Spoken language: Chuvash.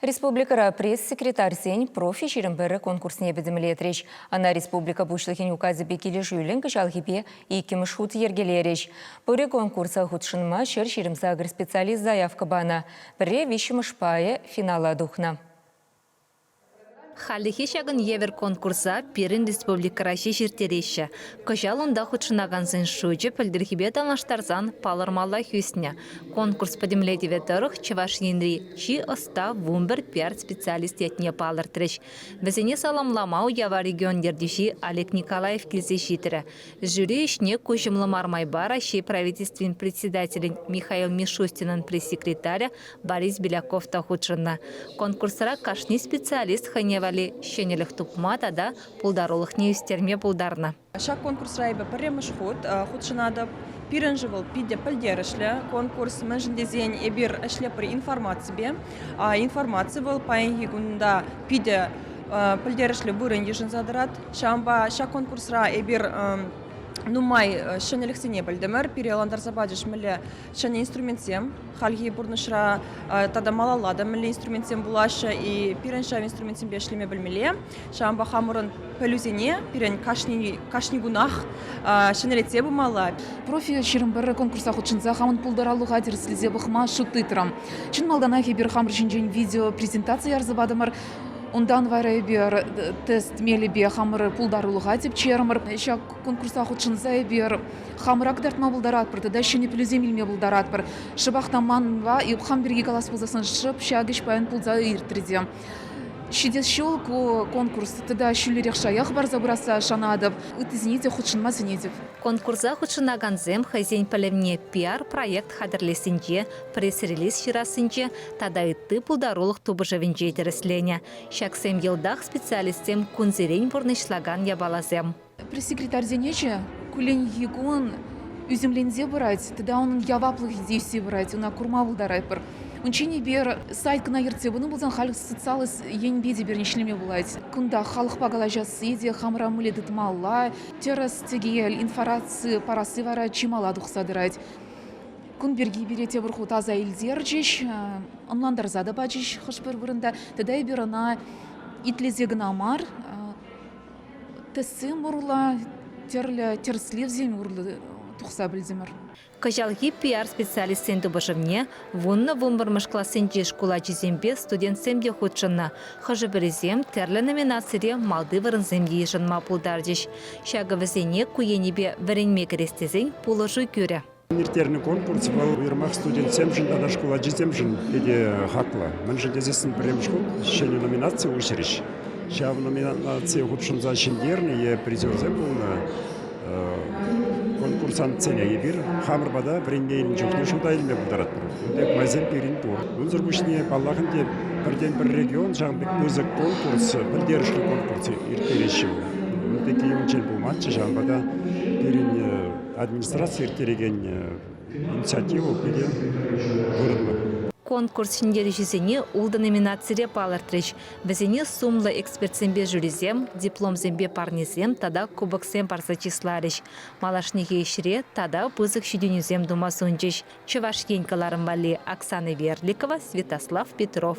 Республикӑра пресс-секретарьсен профи-ҫирӗм пӗрӗ конкурсне пӗтӗмлетрӗҫ. Ӑна республика Пуҫлӑхӗн Указӗпе килӗшӳллӗн кӑҫалхипе иккӗмӗш хут йӗркелерӗҫ. Пӗри конкурса хутшӑнма ҫӗр ҫирӗм сакӑр специалист заявка панӑ, пӗрре виҫҫӗмӗш пайӗ финала тухнӑ. Хальлӗхе ҫакӑн евӗр конкурса пирӗн республикӑра ҫеҫ ирттереҫҫӗ. Кӑҫал унта хутшӑнакансен шучӗ пӗлтӗрхипе танлаштарсан палӑрмаллах ӳснӗ. Конкурс пӗтӗмлетӗвӗ тӑрӑх Чӑваш Енри чи ӑста вунпӗр-пиар специалист ятне палӑртрӗҫ. Вӗсене саламлама уява регион ертӳҫи Олег Николаев килсе ҫитрӗ. Жюри ӗҫне куҫӑмлӑ мар майпа Раҫҫей Правительствин Председателӗн Михаил Мишустинӑн пресс-секретарӗ Борис Беляков та хутшӑннӑ. Конкурсра кашни специалист хӑйне валли ҫӗнӗлӗх тупма тата пултарулӑхне ӳстерме пултарнӑ. Ҫак конкурсра эпӗ пӗрремӗш хут хутшӑнатӑп. Пирӗн-ши вӑл питӗ пӗлтерӗшлӗ конкурс, мӗншӗн тесен эпир ӗҫлетпӗр информаципе. Информаци вӑл паянхи кунта питӗ пӗлтерӗшлӗ вырӑн йышӑнса тӑрать. Ҫавӑнпа ҫак конкурсра эпир нумай ҫӗнӗлӗхсене пӗлтӗмӗр. Пире ӑнлантарса пачӗҫ мӗнле ҫӗнӗ инструментсем. Хальхи пурнӑҫра тата малалла та мӗнле инструментсем пулаҫҫӗ, и пирӗн ҫав инструментсемпе ӗҫлеме пӗлмелле. Ҫавӑнпа хамӑрӑн пӗлӳсене пирӗн кашни, кашни кунах ҫӗнӗлетсе пымалла. Профиль ҫирӗм пӗр конкурса хутшӑнса хамӑн пултарулӑха тӗрӗслесе пӑхма шут тытрӑм. Чӑн малтанах эпир хамӑр ҫинчен видеопрезентаци ярса патӑмӑр. Унтан вара эпир тест мелӗпе хамӑр пултарулӑха тӗпчерӗмӗр. Ҫак Конкурса хутшӑнса эпир хамӑрах кӑтартма пултаратпӑр тата ҫӗнӗ пӗлӳсем илме пултаратпӑр. Шӑпах та манпа Юххам пирки калас пулсассӑн шӑп ҫак ӗҫ паян пулса иртрӗ те. Ҫитес ҫул ку конкурс тата ҫӳлерех шая хӑпарса пырасса шанатӑп, ыттисене те хутшӑнма сӗнетӗп. Конкурса хутшӑнакансем хӑйсен пӗлӗвне пиар-проект хатӗрлессинче, пресс-релиз ҫырассинче тата ытти пултарулӑх тупӑшӑвӗнче тӗрӗсленӗ. Ҫаксем йӑлтах специалистсем кунсерен пурнӑҫлакан япаласем. Пресс-секретарьсене те кулленхи кун ӳсӗмленсе пырать тата унӑн яваплӑхӗ те ӳссе пырать. Ӑна курма пултаратпӑр. Унччен эпир сайт кӑна ертсе пынӑ пулсан, халь социаллӑ енӗпе те пирӗн ӗҫлеме пулать. Кунта халӑхпа калаҫасси те хамӑра мӗнле тытмалла, тӗрӗс-тӗкел информаци парасси вара чи мала тухса тӑрать. Кун пирки пире тепӗр хут аса илтерчӗҫ, ӑнлантарса та пачӗҫ хӑш-пӗр вырӑнта. Тата эпир ӑна итлесе кӑна мар, Тӗссем урлӑ тӗрлӗ тӗрӗслевсем урлӑ тухса пӗлтӗмӗр. Кӑҫалхи пиар специалистсен тупӑшӑвне вуннӑ вунпӗрмӗш классенчи шкул ачисемпе студентсем те хутшӑннӑ. Хӑшӗ-пӗрисем тӗрлӗ номинацире малти вырӑнсем те йышӑнма пултарчӗҫ. Ҫакӑ вӗсене ку енӗпе вӗренме кӗрес тесен пулӑшу кӳрӗ. Ирттернӗ конкурс вӑл уйрӑмах студентсемшӗн тата шкул ачисемшӗн питӗ хаклӑ. Мӗншӗн тесессӗн пӗрремӗш хут ҫӗнӗ номинаци уҫрӗҫ. Ҫав номинацие хутшӑнса ҫӗнтернӗ е призерсем пулнӑ конкурсантсене эпир хамӑр пата вӗренме илнӗ чухне шута илме пултаратпӑр. Кун пек майсем пирӗн пур. Унсӑр пуҫне, паллах, ӗнтӗ пӗртен-пӗр регион ҫавӑн пек пысӑк конкурс, пӗлтерӗшлӗ конкурс ирттереҫҫӗ. Ун пекки умӗнчен пулмастчӗ, ҫавӑнпа та пирӗн Администраци ирттерекен инициатива питӗ вырӑнлӑ. Конкурс ҫӗнтерӳҫисене ултӑ номинацире палӑртрӗҫ. Вӗсене сумлӑ экспертсемпе жюрисем, дипломсемпе парнесем тата кубоксем парса чысларӗҫ. Малашнехи ӗҫре тата пысӑк ҫитӗнӳсем тума сунчӗҫ Чӑваш Ен кӑларӑм валли Оксана Верликова, Святослав Петров.